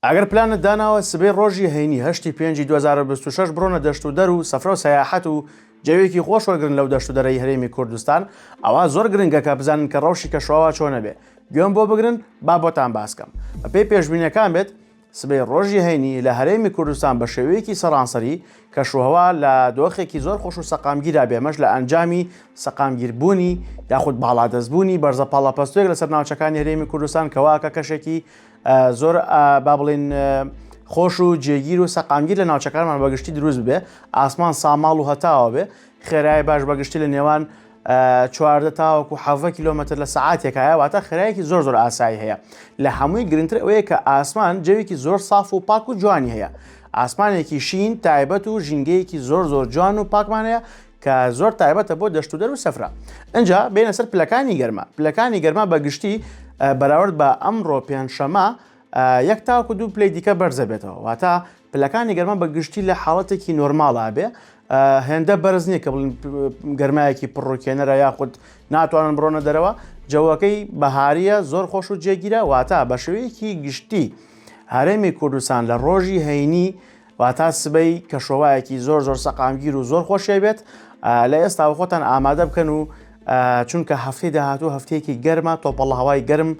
ئەگەر پلانت داناوە سبەی ڕۆژی هەینی هەشتی پێنجی دوو هەزار و بیست و شەش بڕۆنە دەشت و دەر و سەفرە و سەیاحەت و جەوێکی خۆش وەرگرن لەو دەشت و دەرەی هەرێمی کوردستان ئەوا زۆر گرنگە کە بزانن کە ڕەوشی کەشوهەوا چۆنە بێ گوێم بۆ بگرن با بۆتان باس کەم بە پێی پێشبینەکان بێت سبەی ڕۆژی هەینی لە هەرێمی کوردستان بە شێوەیەکی سەرانسەری کەشوهەوا لە دۆخێکی زۆر خۆش و سەقامگیرا بێمەش لە ئەنجامی سەقامگیربوونی یاخود باڵادەستبوونی بەرزە پاڵەپەستۆک لەسەر ناوچەکانی هەرێمی کوردستان کەواکە کەشێکی زۆر با بڵین خۆش و جێگیر و سەقامگیر لە ناوچەکانمان بەگشتی دروست بێ ئاسمان ساماڵ و هەتاوە بێ خێرای باش بەگشتی لە نێوان چواردە تاوەکو و حەڤە کیلومتر لە سعاتێکایە واتە خراەکی زۆر زۆر ئاسایی هەیە لە هەمووی گرنگتر ئەوەیە کە ئاسمان جەوێکی زۆر ساف و پاک و جوانی هەیە ئاسمانێکی شین تایبەت و ژینگەیەکی زۆر زۆر جوان و پاکمانەیە کە زۆر تایبەتە بۆ دەشت و دەرو سەفرا ئەجا بێنە سەر پلەکانی گەرما پلەکانی گەرما بە گشتی بەراورد بە ئەمڕۆ پێنجشەمە یەک تاکو دوو پلی دیکە بەرزە بێتەوە واتە پلەکانی گەرما بە گشتی لە حاڵەتێکی نۆرماڵا بێ هێندە بەرز نییە کە بڵین گەرمایەکی پڕۆکێنەرە یاخود ناتوانن بڕۆنە دەرەوە جەوەکەی بەهاریە زۆر خۆش و جێگیرە واتا بە شوەیەکی گشتی هەرێمی کوردستان لە ڕۆژی هەینی واتا سبەی کەشۆوایەکی زۆر زۆر سەقامگیر و زۆر خۆشی بێت لە ئێستا خۆتان ئامادە بکەن و چونکە هەفتەی داهاتوو هەفتەیەکی گەرمە تۆپەڵ هەوای گەرم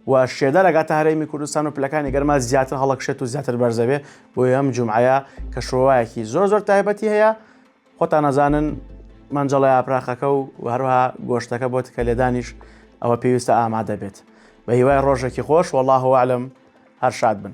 و شێدە لەگاتە هەرێمی کوردستان و پلەکانی گەرما زیاتر هەڵکشێت و زیاتر بەرزەبێ بۆ ئەم جمعەیە کە شۆوایەکی زۆر زۆر تایبەتی هەیە خۆتان نەزانن مەنجەڵە یاپراخەکە و هەروها گۆشتەکە بۆ تکە لێدانیش ئەوە پێویستە ئامادە بێت بە هیوای ڕۆژێکی خۆش وەڵاهوەعلم هەر شاد بن